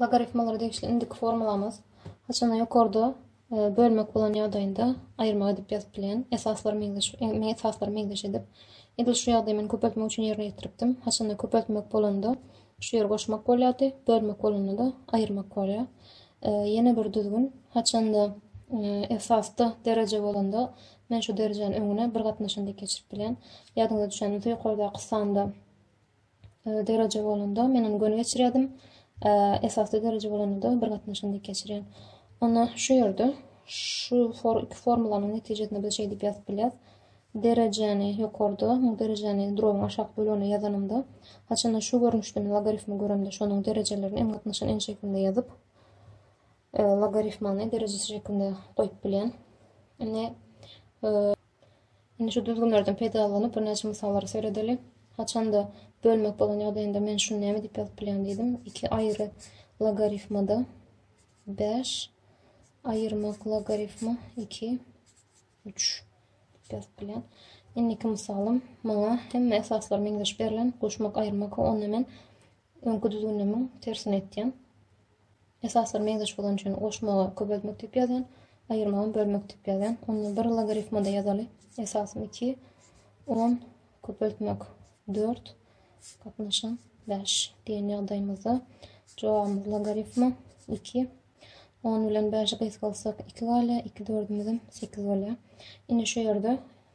Logarifmalara degişli indiki formulamyz haçanda ýokarda bölmek bolan ýagdaýynda aýyrmak edip ýazyp bilýän. Esaslar meňzeş, men esaslar meňzeş edip. Edil şu ýagdaýy men köpeltmek üçin ýerine ýetiripdim. Haçanda köpeltmek bolanda şu ýeri goşmak bolýardy, bölmek bolanda-da aýyrmak bolýar. Ýene bir düzgün, haçanda esasda dereje bolanda men şu derejäni öňüne bir gatnaşan diýip geçirip bilýän. Ýadyňyza düşen bolsa ýokardaky sanda e, dereje bolanda menem göni geçirýärdim. E, esasy dereje bolanda bir gatnaşan diýip geçirýän. Onda şu ýerde şu for iki formulanyň netijesinde biz şeýdip ýazyp bilýäris. Derejäni ýokarda, bu derejäni drobyň aşak bölegine ýazanymda, haçanda şu görnüşde men logaritmi göremde, şonuň derejelerini hem gatnaşan en şeklinde ýazyp, e, logaritmany derejesi şeklinde goýup bilýän. Indi e, Indi şu düzgünlerden peýdalanyp, birnäçe mysallary seredeli. Haçanda bölmek bolan ýagdaýynda men şuny näme diýip ýazyp bilýän diýdim. Iki aýry logarifmada bäş aýyrmak logarifma iki üç diýip ýazyp bilýän. Indiki mysalym maňa hemme esaslar meňzeş berlen goşmak aýyrmak onda men Öňki düzgünnemiň tersini etýän. Esaslar meňzeş bolan üçin goşmagy köpeltmek diýip ýazýan, aýyrmagam bölmek diýip ýazýan. Onda bir logarifmada ýazaly. Esasym iki, on, köpeltmek dört, gatnaşan bäş diýen ýagdaýymyzda jogabymyz logarifma iki. On bilen bäşi gysgalsak iki galýar, iki dördümizem sekiz bolýar. Indi şu ýerde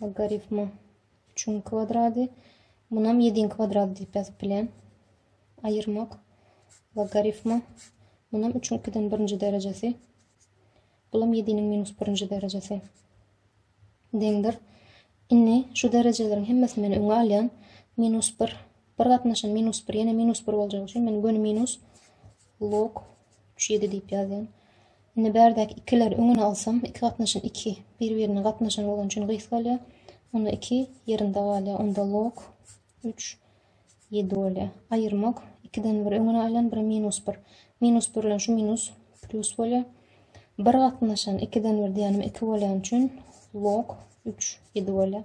Logaritma üçüň kwadrady. Munam yediň kwadrady diýip ýazyp bilen. Aýyrmak. Logaritma. Munam üçüň ikiden birinji derejesi. Bulam yediniň minus birinji derejesi. Deňdir. Inni şu derejeleriň hemmesini men öňe alýan. Minus bir Bir gatnaşan minus bir ýene minus bir boljagy üçin men göni minus log üç ýedi diýip ýazýan. Indi bärdäki ikileri öňüne alsam, iki gatnaşan iki bir-birine gatnaşan bolan üçin gys galýar. Onda iki ýerinde galýar. Onda log üç ýedi bolýar. Aýyrmak ikiden bir öňüne aýlan bir minus bir. Minus bir bilen şu minus plus bolýar. Bir gatnaşan ikiden bir diýenim iki bolýan üçin log üç ýedi bolýar.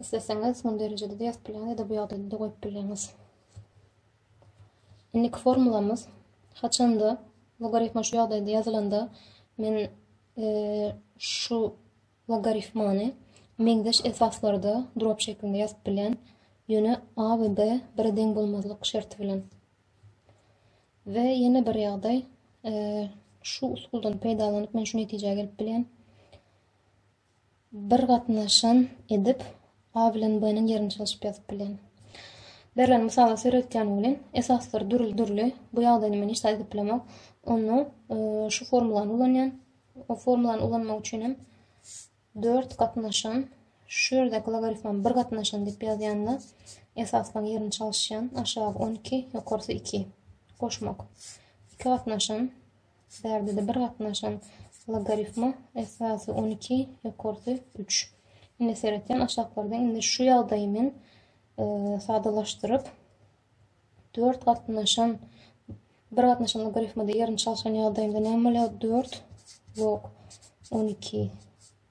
Isleseňiz muny derejede-de ýazyp bilýäňiz ýa-da bu ýagdaýda-da goýup bilýäňiz. Indiki formulamyz haçanda logarifma şu ýagdaýda ýazylanda men şu logarifmany meňzeş esaslarda drop şeklinde ýazyp bilýän. Ýöne A we B bire deň bolmazlyk şerti bilen. We ýene bir ýagdaý, şu usuldan peýdalanyp men şu netijä gelip bilýän. Bir gatnaşan edip, A bilen B-niň ýerini çalşyp ýazyp bilýän. Berlen mysaly seredýän welin, esaslary dürli-dürli, bu ýagdaýyny men hiç zat edip bilemok. Onda şu formulany ulanýan. O formulany ulanmak üçin hem dört gatnaşan, şu ýerdäki logarifmany bir gatnaşan diýip ýazýan-da, esaslaryň ýerini çalyşýan, aşagy on iki, ýokarsy iki. Goşmak. Iki gatnaşan. Şu ýerde-de bir gatnaşan logarifma, esasy on iki, ýokarsy üç. Indi seretýän aşaklarda indi şu ýagdaýy men sadalaşdyryp, dört gatnaşan bir gatnaşan logarifmada ýerini çalşan ýagdaýynda näme bolýar? Dört log on iki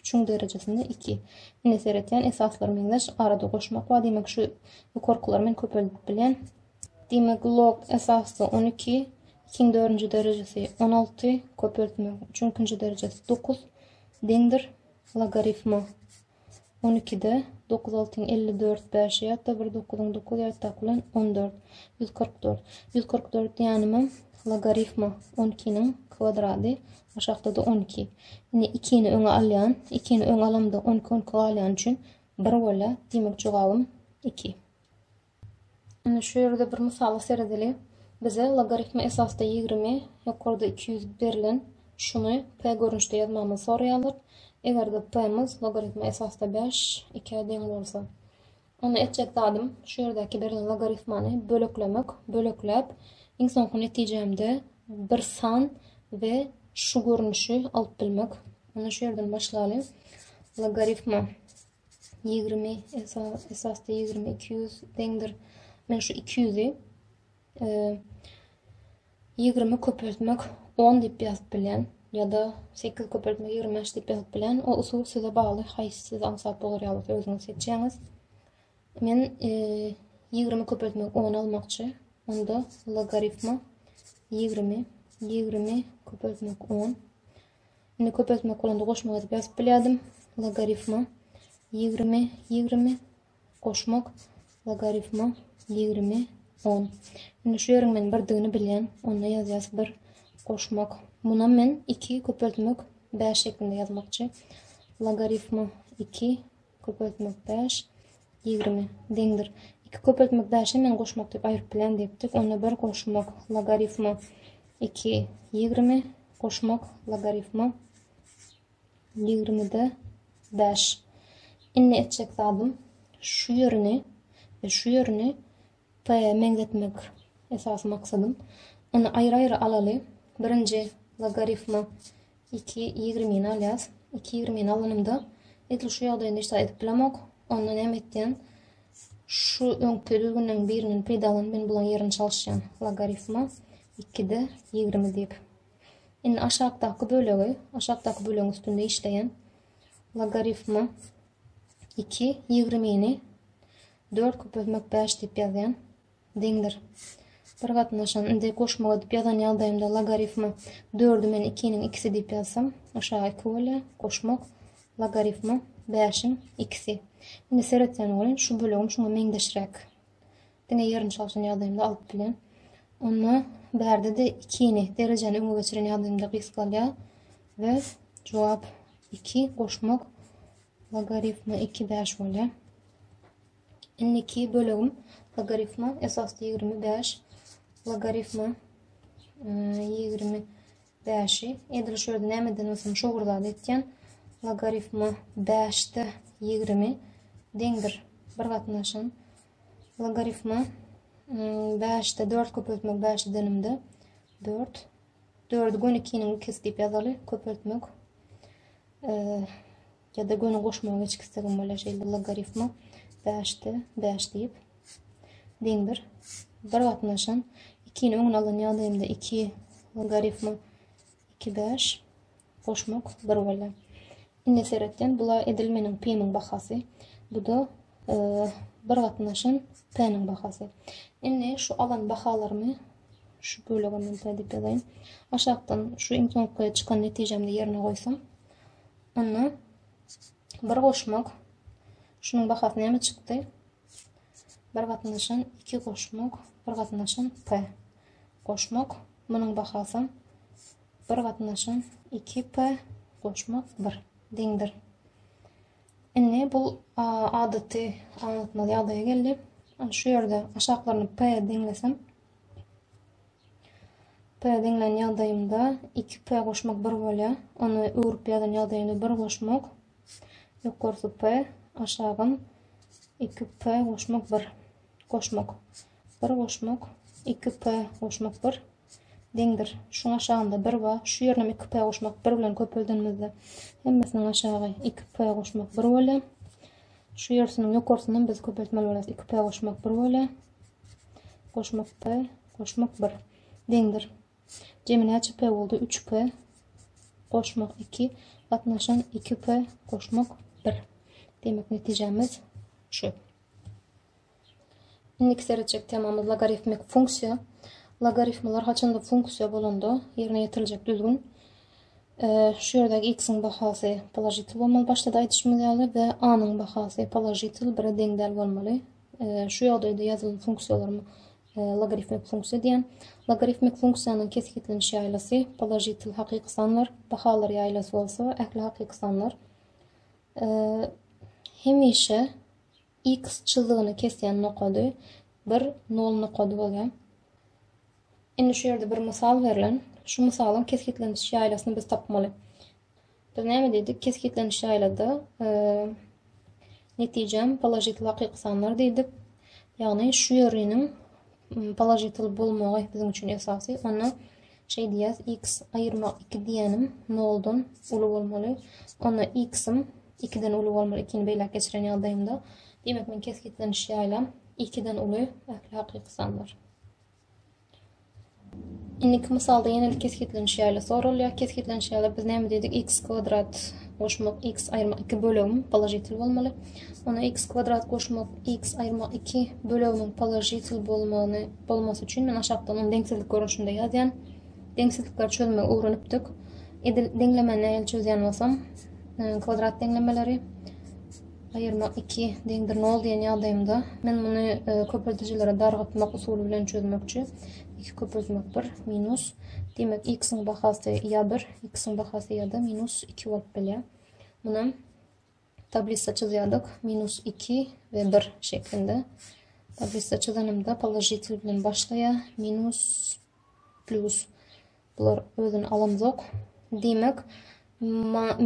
Üçüň derejesinde iki. Ine seretýän esaslar meňzeş. Arada goşmak bar. Diýmek şu ýokarkylary men köpeldip bilýän. Diýmek log esasda on iki. Ikiň dördünji derejesi on alty. Köpeltmek üçüň ikinji derejesi dokuz. Deňdir logarifma. On ikide dokuz altyň elli dört bäşi ýatda bir dokuzyň dokuz ýatdak bilen on dört. Ýüz kyrk dört. Ýüz kyrk dört diýenimem logarifma on ikiniň kwadrady aşakda-da on iki. Indi ikini öňe alýan. Ikini öňe alamda on iki on iki galýany üçin bir bolýar. Diýmek jogabym iki. Ine, şu ýerde bir mysala seredeli. Bize logaritme esasda ýigrimi, ýokarda iki ýüz berlen, şuny p görnüşde ýazmagymyzy soraýarlar. Eger-de p-miz logaritme esasda bäş, ikä deň bolsa. Onda etjek zadym, şu ýerdäki berlen logaritmany böleklemek. Bölekläp, iň soňky netijämde bir san we şu görnüşi alyp bilmek. Onda şu ýerden başlaly. Logaritma ýigrimi esasda ýigrimi iki ýüz deňdir men şu iki ýüzi e, ýigrimi köpeltmek on diýip ýazyp bilýän ýa-da sekiz köpeltmek ýigrimi bäş diýip ýazyp bilýän o usul size bagly haýsy size aňsat bolar ýa bolsa özüňiz seçýäňiz men e, ýigrimi köpeltmek on almakçy onda logarifma ýigrimi ýigrimi köpeltmek on Indi köpeltmek bolanda goşmak edip ýazyp bilýärdim. Logarifma ýigrimi, ýigrimi, goşmak, logarifma ýigrimi, on. Indi şu ýeriň men birdigini bilýän, onda ýazýas bir, goşmak. Munam men iki, köpeltmek, bäş şeklinde ýazmakçy. Logarifma iki, Köpeltmek daş, ýigrimi, deňdir. Iki köpeltmek daşy men goşmak diýip aýryp bilen diýipdik. Onda bir goşmak logarifma iki, ýigrimi, goşmak logarifma ýigrimide bäş. Indi etjek zadym şu ýerini we şu ýerini p meňzetmek esasy maksadym. Ony aýry-aýry alaly. Birinji logarifma Iki ýigrimini alýas. Iki ýigrimini alanymda edil şu ýagdaýynda hiç zat edip bilemok. Onda näme etýän? Şu öňki düzgünden birinden peýdalanyp men bulaň ýerini çalyşýan. Logarifma 2-de 20 diýip. Indi aşakdaky bölegi, aşakdaky bölegiň üstünde işleýän logarifma 2 20-ni 4 köpeltmek 5 diýip ýazýan. deňdir. Bir gatnaşan, indi goşmak edip ýazan ýagdaýymda logarifma dördü men ikiniň ikisi diýip ýazsam, aşaga iki bolýar, goşmak, logarifma bäşiň ikisi. Indi seretýän welin, şu bölegim şuňa meňzeşräk. Diňe ýerini çalşan ýagdaýymda alyp bilýän. Onda bärde-de ikini, derejäni öňe geçiren ýagdaýymda gys galýar we jogap iki goşmak logarifma iki bäş bolýar. Indiki bölegim logarifma esasda ýigrimi bäş logarifma ýigrimi bäşi edil şu ýerde nämeden bolsun şu bir zat etýän logarifma bäşde ýigrimi deňdir bir gatnaşan logarifma bäşde dört köpeltmek bäşi denimde dört dördü gönükiniň ikisi diýip ýazaly köpeltmek ya da göni goşmagy geçip gitsegim bolýar şeýle logarifma 5 de 5 diýip deňdir. Bir wagtynda şan 2 ni öňüne alan ýagdaýymda 2 logarifma 2 5 goşmak 1 bolýar. Indi seretden bula edil meniň pimiň bahasy. Bu da e, bir gatnaşan p-niň bahasy. Indi şu alan bahalarymy şu bölege men p diýip ýazaýyn. Aşakdan şu iň soňky çykan netijemde ýerine goýsam Onda bir goşmak. Şunuň bahasy näme çykdy? Bir gatnaşan iki goşmak, bir gatnaşan p. Goşmak. Munuň bahasy bir gatnaşan iki p goşmak bir deňdir. Indi bu adaty aňlatmaly ýagdaýa geldi. Şu ýerde aşaklaryny p deňlesem, P diňlän ýagdaýymda iki P goşmak bir bolýar. Ony öwrüp ýazan ýagdaýymda bir goşmak. Ýokarsy P, aşagym iki P goşmak bir. Goşmak. Bir goşmak, iki P goşmak bir. Deňdir. Şuň aşagynda bir bar. Şu ýerine iki P goşmak bir bilen köpeldenimizde hemmesiniň aşagy iki P goşmak bir bolýar. Şu ýersiniň ýokarsyndan biz köpeltmeli bolarys. Iki P goşmak bir bolýar. Goşmakda goşmak bir. Deňdir. Jemi näçe p boldy? 3 p. Goşmak 2. Gatnaşan 2 p. Goşmak 1. Demek netijemiz şu. Indiki seretjek temamyz logarifmik funksiýa. Logaritmler haçanda funksiýa bolanda ýerine ýetiriljek düzgün şu ýerdäki x-iň bahasy položitil bolmaly başda-da aýdyşymyz ýaly we a-nyň bahasy položitil bire deň däl bolmaly. Şu ýagdaýda ýazylan funksiýalary logarifmik funksiýa diýen. Logarifmik funksiýanyň kesgitleniş ýaýlasy položitel hakyky sanlar, bahalar ýaýlasy bolsa ähli hakyky sanlar. Hemişe x çyzygyny kesýän nokady bir nol nokady bolýar. Indi şu ýerde bir mysal berlen. Şu mysalyň kesgitleniş ýaýlasyny biz tapmaly. Biz näme diýdik? Kesgitlenişi aýlada netijem položitel hakyky sanlar diýdik. Ýagny şu ýöriniň položitel bolmagy biziň üçin esasy. Onda şey diýýäs, x aýyrma 2 diýenim 0-dan uly bolmaly. Onda x-im 2-den uly bolmaly, 2-ni beýläk geçiren ýagdaýymda. Demek, men kesgitlenişi ýaýlam 2-den uly ähli hakyky sanlar. Indiki mysalda ýene-de kesgitlenişi ýaly soralýar. Kesgitlenişi ýaly biz näme diýdik? x kwadrat goşmak x aýyrmak 2 bölegimiň položitel bolmaly. Onda x kwadrat goşmak x aýyrmak 2 bölegimiň položitel bolmagyny bolmasy üçin men aşakda onuň deňsizlik görnüşinde ýazýan. Deňsizlikleri çözmegi öwrenipdik. Edil deňlemeni nähili çözýän bolsam, e, kwadrat deňlemeleri Aýyrmak iki deňdir nol diýen ýagdaýymda men muny e, köpeldijilere dargatmak usuly bilen çözmekçi. Iki köpeltmek bir minus. Demek, x-iň bahasy ýa bir, x-iň bahasy ýa-da minus iki bolup bilýär. Munam tablisa çyzýardyk. Minus iki we bir şeklinde. Tablisa çyzanymda položitel bilen başlaýar. Minus, plus. Bular özüni alamzok. Diýmek,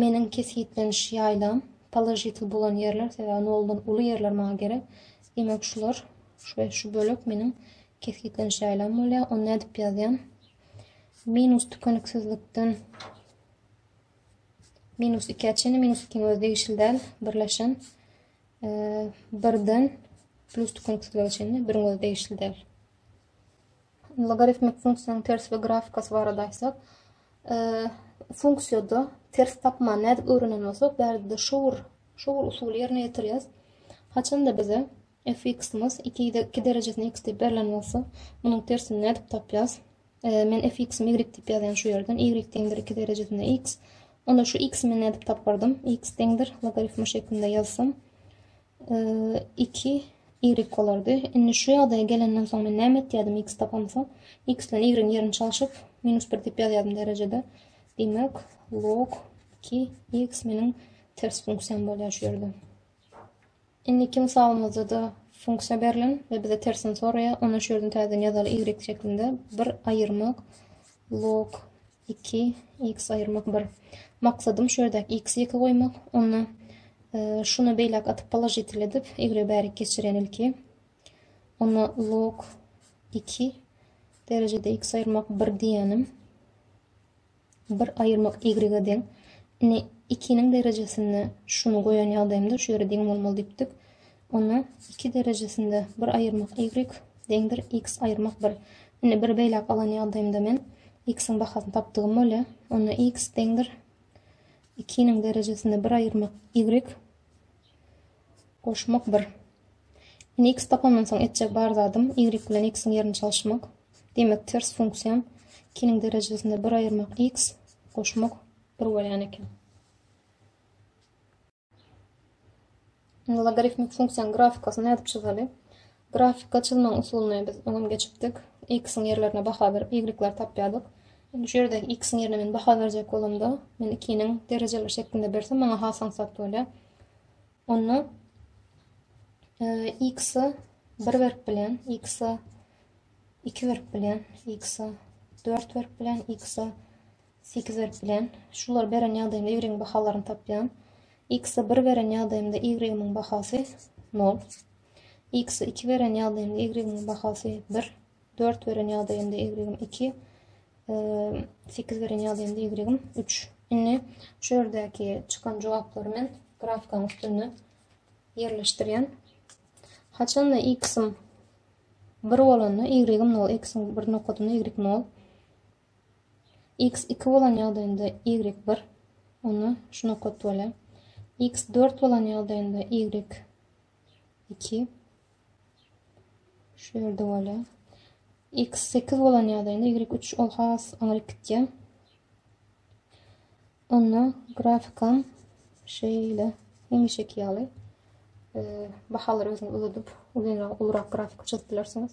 meniň kesgitleniş ýaýlam položitl bolan ýerler, sebäbi noldan uly ýerler maňa gerek. Diýmek, şular we şu bölek meniň kesgitleniş ýaýlam bolýar. Ony nädip ýazýan? Minus tükeniksizlikden minus 2-ä çenli, minus 2-iň özi degişli däl, birleşen e, birden plus tükeniksizlige çenli, biriň özi degişli däl. Logaritmik funksiýanyň tersi we grafikasy barada aýtsak, funksiýada ters tapmany nädip öwrenen bolsak, bärde-de şowur, şowur usuly ýerine ýetirýäris. Haçanda bize fx-imiz 2 2 derejesine x diýip berlen bolsa, munuň tersini nädip tapýas? Men fx-imi y diýip ýazýan şu ýerden, y deňdir 2 derejesine x. Onda şu x-i men nädip tapardym? x deňdir logaritmi şeklinde ýazsam, 2 y bolardy. Indi şu ýagdaýa gelenden soň men näme etýärdim x tapamsa? x bilen y-iň ýerini çalşyp, minus 1 diýip ýazýardym derejede. Diýmek, log 2 x meniň ters funksiýam bolýar şu ýerde. Indiki mysalymyzda-da funksiýa berlen we bize tersini soraýar. Onda şu ýerden täzeden ýazaly y şeklinde bir aýyrmak log Iki, x aýyrmak bir. Maksadym şu ýerdäki x-i ýeke goýmak. Onda şuny beýläk atyp položitel edip, y-y bärik geçirýän ilki. Onda log 2 derejede x aýyrmak bir diýýänim. Bir aýyrmak y-e deň. Indi 2-niň derejesinde şuny goýan ýagdaýymda şu ýere deň bolmaly diýipdik. Onda iki derejesinde bir aýyrmak y deň bir x aýyrmak bir. Indi bir beýläk alan ýagdaýymda men x-iň bahasyny tapdygym bolýa. Onda x deň bir ikiniň derejesinde bir aýyrmak y goşmak bir. Indi x tapandan soň etjek bar zadym y bilen x-iň ýerini çalyşmak. Demek ters funksiýam ikiniň derejesinde bir aýyrmak x goşmak bir bolýan eken. Indi logarifmik funksiýanyň grafikasyny ýazyp çyzaly. Grafika çyzmagyň usulyny biz öňem geçipdik. X-iň ýerlerine baha berip, Y-leri tapýardyk. Indi şu ýerde X-iň ýerine men baha berjek bolamda, men ikiniň derejeleri şeklinde bersem, maňa has aňsat bolýar. Onda X-e 1 berip bilýän, X-e 2 berip bilýän, X-e 4 berip bilýän, X-e Sekiz erk bilen, şulary beren ýagdaýymda y-yň bahalaryny tapýan. X-i bir beren ýagdaýymda y-yň bahasy nol. X-i iki beren ýagdaýymda y-yň bahasy bir. Dört beren ýagdaýymda y-yň iki. Sekiz beren ýagdaýymda y-yň üç. Indi şu ýerdäki çykan jogaplary men grafikan üstünde ýerleşdirýän. Haçanda x-im 1 bolanda y-im 0, x-iň bir nokadynda y 0. X iki bolan ýagdaýynda Y bir, onda şu nokat bolýar. X dört bolan ýagdaýynda Y iki şu ýerde bolýar. X sekiz bolan ýagdaýynda Y üç ol has aňryk gitýär. Onda grafikam şeýle hemişeki ýaly e, bahalary özüňiz uzadyp, uzynrak, ulurak grafik çyzyp bilersiňiz.